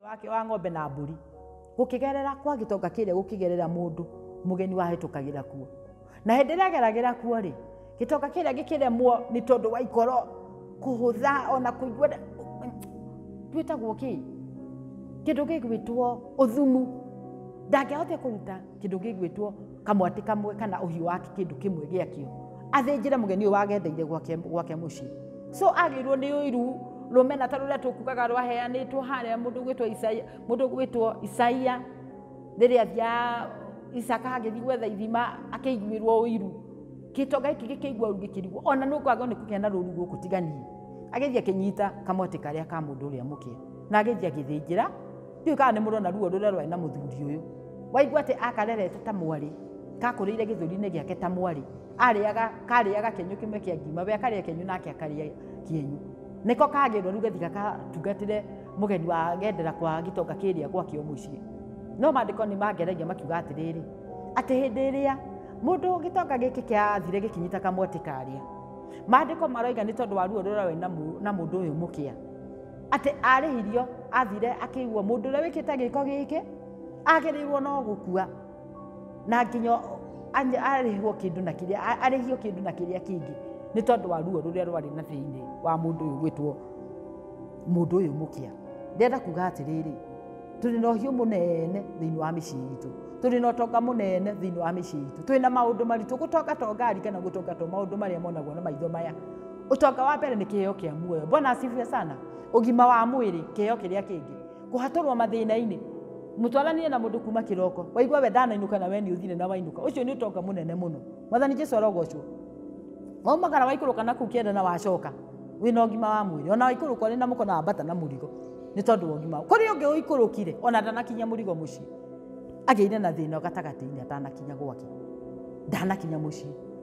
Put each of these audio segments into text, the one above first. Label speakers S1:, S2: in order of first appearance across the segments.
S1: wake wa ng'ombe na mbũri gũkĩgerera kwa gĩtonga kĩrĩa gũkĩgerera mũndũ mũgeni wahĩtũkagĩra kuo na hĩndĩ ĩrĩa ageragĩra kuo rĩ gĩtonga kĩrĩa gĩkĩremwo nĩ tondũ wa ikoro kũhũtha ona kũigua twĩtagwo kĩ kĩndũ gĩgwĩtwo ũthumu ndangĩahotire kũruta kĩndũ gĩgwĩtwo kamwatĩ kamwe kana ũhiũ wake kĩndũ kĩmwe gĩakĩo athĩnjĩre mũgeni ũyũ wagendeire gwake gwake mũciĩ so agĩirwo nĩ ũiru rũmena ta rũrĩa tũkugaga rwaheanĩtwo harĩa mũndũ gwĩtwo isaia mũndũ gwĩtwo isaia rĩrĩa athia isaka agĩthiĩ gwetha ithima akĩiguĩrwo ũiru gĩtonga gĩkĩ gĩkĩigua ũru gĩkĩrigwo ona nĩ ũkwagwo nĩ kũgĩa na rũru gũkũ tiganie agĩthiĩ akĩnyita kamwatĩ karĩa ka mũndũ ũrĩa mũkĩa na agĩthiĩ agĩthĩnjĩra ndiå kana nä må rona ruo rå rä a rwarä na må thuri å yå waigua atä akarerete ta mwarä kakå rä ire gä thå rinä gä ake ta mwarä arĩaga karĩaga kĩenyũ kĩmwe kĩa ngima we akarĩa kĩenyũ nake akarĩa kĩenyũ nĩko kagĩrwo rĩu gathi gakatungatĩre mũgeni wa gendera kwa gĩtonga kĩrĩa gwakĩo mũciĩ no maandĩko nĩ mangeragia makiuga atĩrĩrĩ atĩ hĩndĩ ĩrĩa mũndũ gĩtonga gĩkĩ kĩathire gĩkinyita kamwatĩ karĩa maandĩko maroiga nĩ tondũ wa ruo rũrĩa we na mũndũ ũyũ mũkĩa atĩ arĩhirio athire akĩiguo mũndũ ũrĩa wĩkĩte gĩko gĩkĩ agĩrĩirwo no gũkua na nginya arĩhwo kĩndũ na kĩrĩa arĩhio kĩndũ na kĩrĩa kĩngĩ nĩ tondũ wa ruo rũrĩa rwarĩ na thĩinĩ wa mũndũ ũyũ gwĩtwo mũndũ ũyũ mũkĩa ndĩrenda kuga atĩrĩrĩ tũrĩ na ũhiũ mũnene thĩinĩ wa mĩciĩ itũ tũrĩ na ũtonga mũnene thĩinĩ wa mĩciĩ itũ twĩ na maũndũ maritũ gũtongatonga arikana gũtongatwo maũndũ marĩa monagwo na maitho maya Ũtonga wa mbere nĩ kĩheo kĩa muoyo. Bwana asifiwe sana. Ũgima wa mwĩrĩ, kĩheo kĩrĩa kĩngĩ. Kũhatũrwo mathĩna-inĩ. Mũtwaranire na mũndũ kuma kĩroko. Waigua we ndanainũka na we nĩ ũthire na wainũka. Ũcio nĩ ũtonga mũnene mũno. Mwathani Jesu arogocwo. Waumagara waikũrũka na kũu kĩanda na wacoka wĩ na ũgima wa mwĩrĩ. Ona waikũrũka ũrĩ na mũko na wambata na mũrigo nĩ tondũ wa ũgima. Kũrĩ ũngĩ ũikũrũkire ona ndanakinya mũrigo mũciĩ. Agĩire na thĩna gatagatĩ-inĩ atanakinya gwake. Ndanakinya mũciĩ.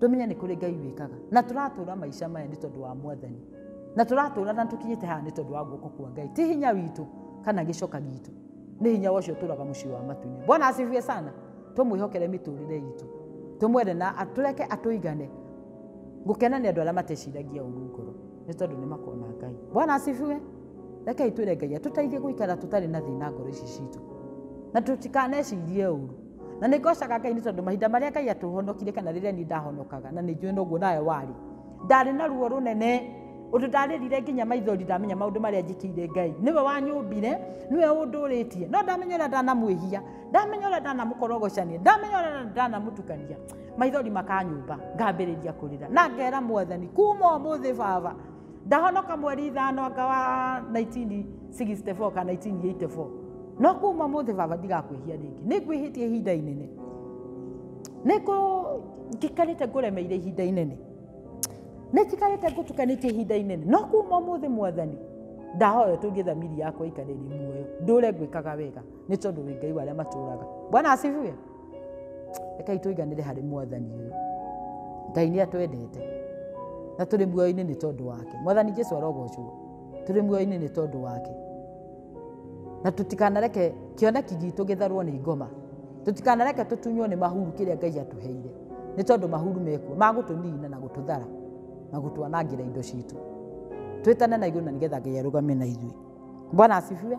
S1: tũmenye nĩ kũrĩ ngai wĩkaga na tũratũra maica maya nĩ tondũ wa mwathani na tũratũra na tũkinyĩte haha nĩ tondũ wa guoko kwa ngai ti hinya witũ kana gĩcoka gitũ nĩ hinya ũcio ũtũraga mũciĩ wa matuinĩ bwana asifiwe sana tũmwĩhokere mĩtũrĩre itũ tũmwere na atũreke atũigane gũkena nĩ andũ arĩa mateciragia ũru ngoro nĩ tondũ nĩ makona ngai bwana asifiwe rekei twĩre ngai atũteithie gũikara tũtarĩ na thĩna ngoro ici citũ na tũtikanecirie ũru Na nĩ ngocaga Ngai nĩ tondũ mahinda marĩa Ngai atũhonokire kana rĩrĩa niĩ ndahonokaga na nĩ njũĩ noguo nawe warĩ. Ndarĩ na ruo rũnene ũndũ ndarĩrire nginya maithori ndamenya maũndũ marĩa njĩkĩire Ngai. Nĩwe wanyũmbire, nĩwe ũndũrĩtie. No ndamenya ũrĩa ndanamwĩhia, ndamenya ũrĩa ndanamũkorogocania, ndamenya ũrĩa ndanamũtukania, maithori makanyũmba, ngambĩrĩria kũrĩra. Na ngera Mwathani, kuma ũmũthĩ Baba, Ndahonoka mweri ithano anga wa 1964 kana 1984. No kuma mũthĩ baba ndigakwĩhia rĩngĩ. Nĩ ngwĩhĩtie ihinda inene. Nĩ ngũ njikarĩte ngũremeire ihinda inene. Nĩ njikarĩte ngũtukanĩtie ihinda inene. No kuma mũthĩ mwathani ndahoya ũtũrie thamiri yakwa ikarĩrĩ muoyo ndũre ngwĩkaga wega nĩ tondũ wĩ ngai wa arĩa matũraga bwana asifiwe rekei tũiganĩre harĩ mwathani ũyũ ngai nĩ atwendete na tũrĩ muoyo-inĩ nĩ tondũ wake mwathani jesu arogocwo tũrĩ muoyo-inĩ nĩ tondũ wake na tũtikanareke kĩoneki gitũ gĩtharwo nĩ ngoma tũtikanareke tũtunywo nĩ mahuru kĩrĩa ngai atũheire nĩ tondũ mahuru mekuo magũtũnina na gũtũthara na gũtwanangĩra indo citũ twĩtane na igũrũ na nĩgetha ngai arũgame na ithuĩ bwana asifiwe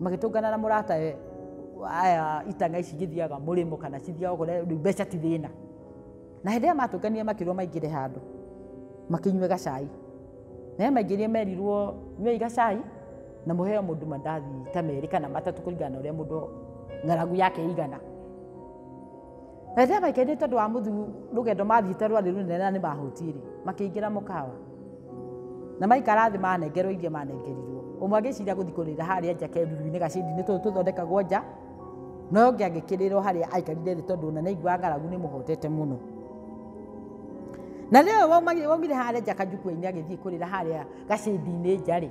S1: magĩtũngana na mũrata we aya itanga ici igĩthiaga mũrĩmo kana cithiaga kũrĩa rĩu mbeca ti thĩna na hĩndĩ ĩrĩa matũnganire makĩrwo maingĩre handũ makĩnyue gacai naye maingĩrie merirwo nyuei gacai na mũheo mũndũ mandathi ta merĩ kana matatũ kũringana na ũrĩa mũndũ ng'aragu yake ĩigana Na rĩrĩa maikaire tondũ wa mũthu rũgendo mathiĩte rwarĩ rũnene na nĩ mahũtiĩ-rĩ, makĩingĩra mũkawa. Na maikara thĩ manengerwo iria manengerirwo. Ũmwe agĩciria gũthiĩ kũrĩra harĩa nja keruru-inĩ gacĩdi-inĩ tũtũ tũthondekagwo nja, na ũyũ ũngĩ agĩkĩrĩra o harĩa aikarire thĩ tondũ ona nĩaiguaga ng'aragu nĩmũhotete mũno. Na rĩrĩa ũyũ waumire harĩa nja kanjukua-inĩ agĩthiĩ kũrĩra harĩa gacĩdi-inĩ nja-rĩ,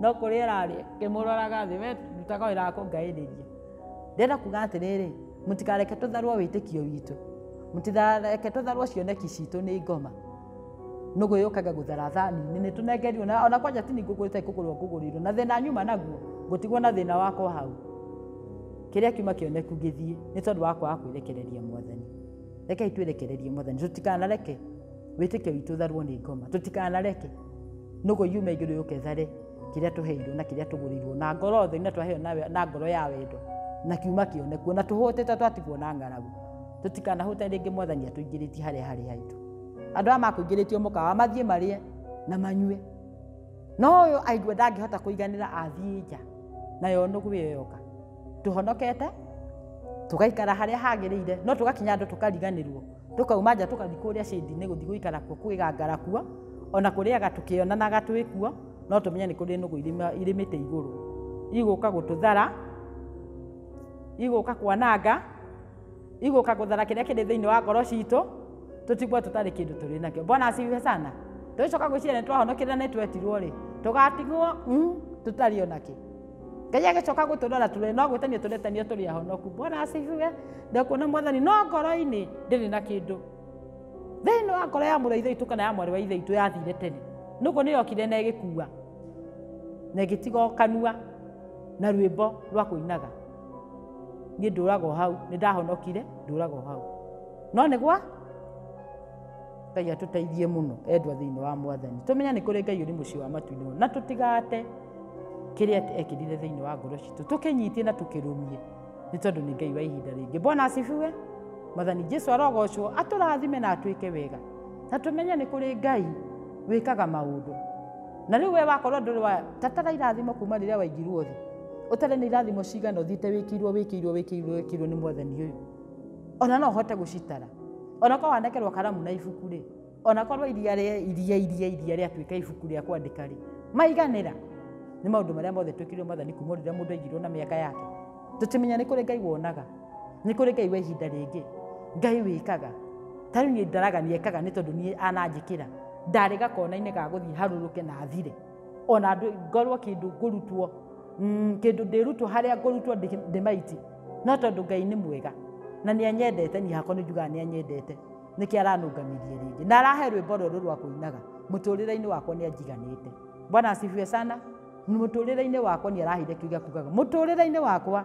S1: no kũrĩa ararĩ ngĩmũroraga thĩ we ndutaga wĩra wa kũngaĩrĩria ndĩrenda kuga atĩrĩrĩ mũtikareke tũtharwo wĩtĩkio witũ mũtikareke tũtharwo cioneki citũ nĩ ngoma nũgũ yũkaga gũthara thani-inĩ nĩ tũnengerirwo na ona kwanja ti ningũ kũrĩte kũgũrwo kũgũrĩirwo na thĩna nyuma naguo ngũtigwo na thĩna wakwa hau kĩrĩa kiuma kĩoneku gĩthiĩ nĩ tondũ wa kwaga kwĩrekereria mwathani rekei twĩrekererie mwathani tũtikanareke wĩtĩkio witũ ũtharwo nĩ ngoma tũtikanareke nũgũ yume igũrũ yũke ĩthare kĩrĩa tũheirwo na kĩrĩa tũgũrĩirwo na ngoro theri na twaheo na we- na ngoro ya wendo na kiuma kĩone kuona tũhũtĩte twatigwo na ng'aragu tũtikanahũte rĩngĩ mwathani atũingĩrĩtie harĩa harĩ haitũ andũ aya makũingĩrĩtio mũkawa mathiĩ marĩe na manyue no ũyũ aigua ndangĩhota kũiganĩra athiĩ nja nayo nũgũ ĩyo yoka tũhonokete tũgaikara harĩa hagĩrĩire no tũgakinya andũ tũkariganĩrwo Tũkauma nja tũkathi kũrĩa shĩndi-inĩ gũthi gũikara kuo kwĩgangara kuo, o na kũrĩaga tũkĩonanaga twĩ kuo, no tũmenye nĩ kũrĩ nũgũ irĩmĩte igũrũ, igũka gũtũthara, igũka kwananga, igũka gũthara kĩrĩa kĩrĩ thĩinĩ wa ngoro citũ, tũtigwo tũtarĩ kĩndũ tũrĩ nakĩo. Bwana asifiwe sana. Tũgĩcoka gwĩciria nĩ twahonokirio na nĩ twetirwo-rĩ, tũgatigwo tũtarĩ o na kĩ. ngai agĩcoka gũtũrora tũrĩ no gwĩtanio tũretanio tũrĩ ahonoku bwana asifiwe ndakuona mwathani no ngoro-inĩ ndĩrĩ na kĩndũ thĩinĩ wa ngoro ya mũrũ ithaitũ kana ya mwarĩ wa ithaitũ yathire tene nũguo nĩyokire na ĩgĩkua na ĩgĩtiga kanua na rwĩmbo rwa kũinaga niĩ ndũraga hau nĩ ndahonokire ndũraga hau no nĩgwa ngai atũteithie mũno endwa thĩinĩ wa mwathani tũmenya nĩ kũrĩ ngai ũrĩ mũciĩ wa matuinĩ na tũtigate kĩrĩa ekĩrire thĩinĩ wa ngoro citũ tũkĩnyitie na tũkĩrũmie nĩ tondũ nĩ ngai wa ihinda rĩngĩ mbona acibiwe mwathani jesu arogocwo atũrathime na atwĩke wega na tũmenye nĩ kũrĩ ngai wĩkaga maũndũ na rĩu we wakorwo ndũrĩ wa tatara irathimo kuma rĩrĩa waingirwo thĩ ũtarĩ nĩ irathimo cigana ũthiĩte wĩkĩirwo wĩkĩirwo wĩkĩirwo wĩkĩirwo nĩ mwathani ũyũ ona no hote gucitara ona ko wandekerwo karamu na ibuku ri ona korwo iria ri iria iria iria ri atuika ibuku ri akwandika ri maiganira ni maundu maria mothe twikirwo mathani kuma rira mundu aigirwo na miaka yake tutimenya ni kuri ngai wonaga ni kuri ngai wa ihinda ringi ngai wikaga tari ni ndaragania ekaga ni tondu ni ananjikira ndari gakona-ini ga guthii haruruke na thire ona ngorwo kindu ngurutwo mm, kindu ndirutwo haria ngurutwo ndimaiti no tondu ngai ni mwega na ni anyendete ni hakwa ni njugaga ni anyendete niki aranungamirie ringi na arahe rwimbo ruru rwa kuinaga muturire-ini wakwa ni anjiganite bwana asifiwe sana muturire-ini wakwa ni araheire kiuga kugaga muturire-ini wakwa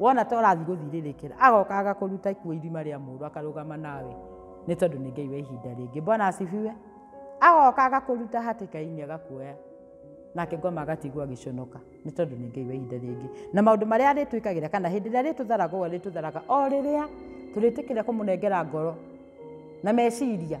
S1: wona ta ũrathiĩ gũthirĩrĩkĩra agoka agakũruta ikuo irima rĩa mũndũ akarũgama nawe nĩ tondũ nĩ ngai wa ihinda rĩngĩ bwana asifiwe agoka agakũruta hatĩka-inĩ agakuoya nake ngoma agatigwo agĩconoka nĩ tondũ nĩ ngai wa ihinda rĩngĩ na maũndũ marĩa arĩtwĩkagĩra kana hĩndĩ ĩrĩa arĩtũtharaga ũũ arĩtũtharaga o rĩrĩa tũrĩtĩkĩra kũmũnengera ngoro na meciria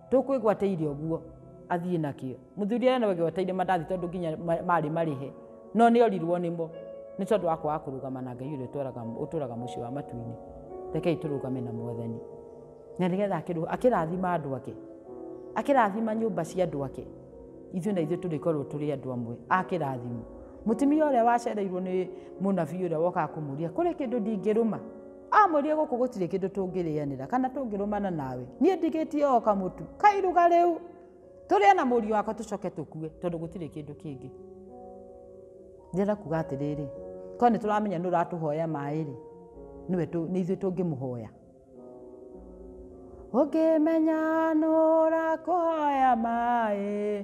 S1: tũkwĩgwateire ũguo athiĩ nakĩo mũthuri arĩa nĩwegwataire mandathi tondũ nginya ma- marĩ marĩhe no nĩ orirwo nĩmo nĩ tondũ wa kwaga kũrũgama na ngai ũrĩa ũtũraga- ũtũraga mũciĩ wa matu-inĩ rekei tũrũgame na mwathani na nĩgetha akĩrũ- akĩrathima andũ ake akĩrathima nyũmba cia andũ ake ithuĩ na ithuĩ tũrĩkorwo tũrĩ andũ amwe akĩrathimo mũtumia ũrĩa wacereirwo nĩ mũnabii ũrĩa wokaga kũmũria kũrĩ kĩndũ ndingĩrũma Amwĩrire gũkũ gũtirĩ kĩndũ tũngĩrĩanĩra kana tũngĩrũmana nawe. Niĩ ndigĩtie o kamũtu. Kairuga rĩu. Tũrĩe na mũriũ wakwa tũcoke tũkue tondũ gũtirĩ kĩndũ kĩngĩ. Ndĩrenda kuga atĩrĩrĩ, korwo nĩ tũramenya nĩ ũratũhoya maĩ-rĩ, nĩwe nĩ ithuĩ tũngĩmũhoya. Ũngĩmenya nũrakũhoya maĩ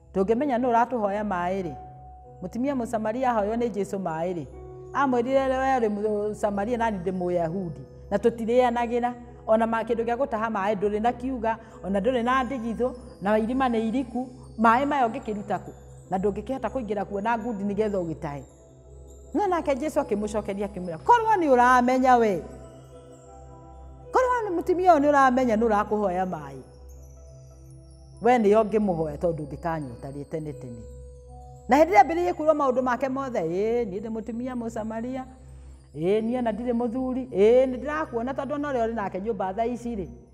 S1: Tũngĩmenya nũ ũratũhoya maĩ-rĩ, mũtumia Mũsamaria ahoywo nĩ Jesu maĩ-rĩ, amwĩrire we ũrĩ Mũsamaria nani ndĩ Mũyahudi, na tũtirĩanagĩra ona ma kĩndũ gĩa gũtaha maĩ, ndũrĩ na kiuga ona ndũrĩ na ndigithũ na irima nĩ iriku, maĩ maya ũngĩkĩruta kũ? na ndũngĩkĩhota kũingĩra kuo na ngundi nĩgetha ũgĩtahe. no nake jesu akĩmũcokeria akĩmwĩra korwo nĩ ũramenya we korwo nĩ mũtumia ũyũ nĩ ũramenya nĩ ũrakũhoya maĩ we nĩyo ngĩmũhoya tondũ ndĩkanyota rĩ tene tene na hĩndĩ ĩrĩa mbĩrĩirie kuuga maũndũ make mothe ĩ niĩ ndĩ mũtumia mũsamaria ĩ niĩ ona ndirĩ mũthuri ĩ nĩ ndĩrakuona tondũ ona ũrĩa ũrĩ nake nyũmba thaa ici rĩ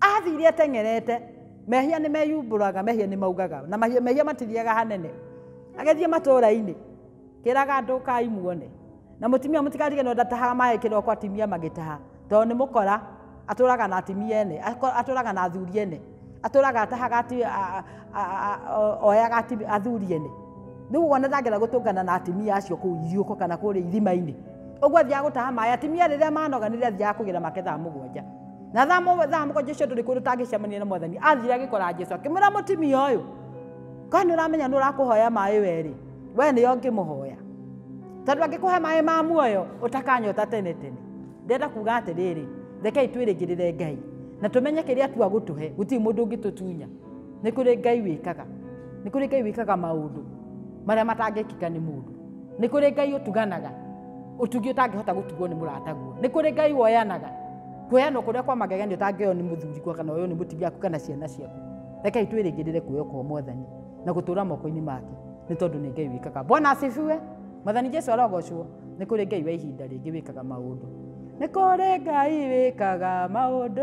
S1: athire ateng'erete mehia nĩ meyumbũraga mehia nĩ maugaga na mahia- mehia matithiaga hanene agĩthiĩ matũũra-inĩ kĩraga andũ kai muone na mũtumia mũtikarige no ndatahaga maĩ kĩroko atimia magĩtaha tondũ nĩ mũkora atũraga na atimia ene ako- atũraga na athuri ene atũraga atahaga ati- a- a- a- a- o- oyaga ati- athuri ene rĩu wona ndangĩra gũtũngana na atimia acio kũu ithiũko kana kũrĩa irima-inĩ ũguo athiaga gũtaha maĩ atimia rĩrĩa manoga nĩrĩo athiaga kũgĩra make thaa mũgwanja na thaa mũgwa- thaa mũgwanja ũcio ndũrĩ kũndũ ũtangĩcemania na mwathani athire agĩkora jesu akĩmwĩra mũtimia ũyũ kwani ũramenya nĩ ũrakũhoya maĩ werĩ we nĩyo ngĩmũhoya tondũ angĩkũhe maĩ ma muoyo ũtakanyota tene tene ndenda kuga atĩrĩrĩ rekei twĩrĩgĩrĩre ngai na tũmenye kĩrĩa tua gũtũhe gũtirĩ mũndũ ũngĩtũtunya nĩ kũrĩ ngai wĩkaga nĩ kũrĩ ngai wĩkaga maũndũ marĩa matangĩkĩka nĩ mũndũ nĩ kũrĩ ngai ũtuganaga ũtugi ũtangĩhota gũtugwo nĩ mũrataguo nĩ kũrĩ ngai woyanaga Kweanwo kuria kwa magegenio ta ngeyo ni muthuri kwa kana uyu ni mutumia waku kana ciana ciaku. Rekei twirigirire kuoyo kwa Mwathani na gutura moko-ini make ni tondu ni Ngai wikaga. Bwana asifiwe. Mwathani Jesu arogocwo. Ni kuri Ngai wa ihinda ringi wikaga maundu. Ni kuri Ngai wikaga maundu.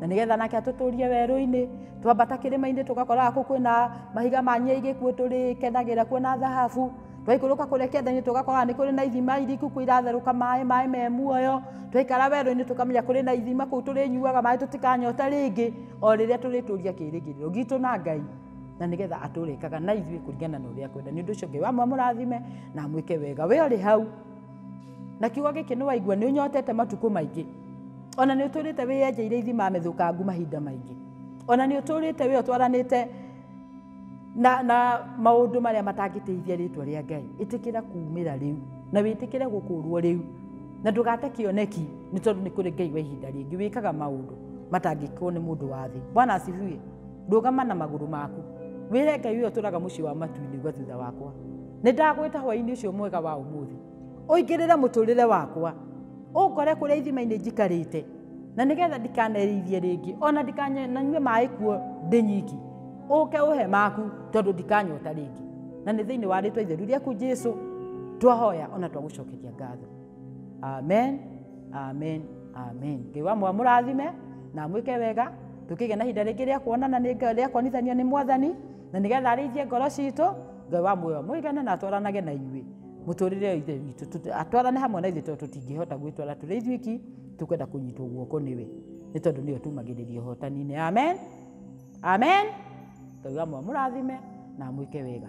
S1: na nĩgetha nake atũtũrie werũ-inĩ twambata kĩrĩma-inĩ tũgakoraga kũu kwĩna mahiga ma nyeigĩ kuo tũrĩkenagĩra kuo na thahabu twaikũrũka kũrĩa kĩanda-inĩ tũgakoraga nĩ kũrĩ na ithima iriku kuo iratherũka maĩ maĩ me muoyo twaikara werũ-inĩ tũkamenya kũrĩ na ithima kũu tũrĩnyuaga maĩ tũtikanyota rĩngĩ o rĩrĩa tũrĩtũria kĩrĩgĩrĩro gitũ na ngai na nĩgetha atũrĩkaga na ithuĩ kũringana na ũrĩa kwenda nĩ ũndũ ũcio ngai wa mũmũrathime na amwĩke wega we ũrĩ hau na kiugo gĩkĩ nĩ waigua nĩ ũnyotete matukũ maingĩ ona nĩ ũtũrĩte wĩyenjeire ithima methũkangu mahinda maingĩ ona nĩ ũtũrĩte wĩ ũtwaranĩte na, na maũndũ marĩa matangĩteithia rĩtwa rĩa ngai ĩtĩkĩra kuumĩra rĩu na wĩtĩkĩre gũkũrwo rĩu na ndũgate kĩoneki nĩ tondũ nĩ kũrĩ ngai wa ihinda rĩngĩ wĩkaga maũndũ matangĩkwo nĩ mũndũ wa thĩ bwana asifiwe ndũgama na magũrũ maku wĩre ngai ũyũ ũtũraga mũciĩ wa matu-inĩ gwa thutha wakwa nĩ ndagwĩta hwaĩ-inĩ ũcio mwega wa ũmũthĩ ũingĩrĩre mũtũrĩre wakwa ũngore kũrĩa ithima-inĩ njikarĩte na nĩgetha ndikanereirie rĩngĩ ona ndikananyue maĩ kuo ndĩ nyiki ũke ũhe maku tondũ ndikanyota rĩngĩ na nĩ thĩinĩ wa rĩtwa itheru rĩaku jesu twahoya ona twagũcokeria ngatho amen amen amen ngai wa mwa mũrathime na mwĩke wega tũkĩgĩa na ihinda rĩngĩ rĩa kuonana nĩ Ngai- rĩa kuonithanio nĩ mwathani na nĩgetha arĩithie ngoro citũ ngai wa muoyo mũigane na atwaranage na inyuĩ mũtũrĩre ithe witũ tũtũ- atwarane hamwe na ithuĩ tondũ tũtingĩhota gwĩtwara tũrĩ ithuĩki tũkwenda kũnyitwo guoko nĩwe nĩ tondũ nĩwe tumagĩrĩria ũhotaninĩ amen amen ngai wa mwa mũrathime na mwĩke wega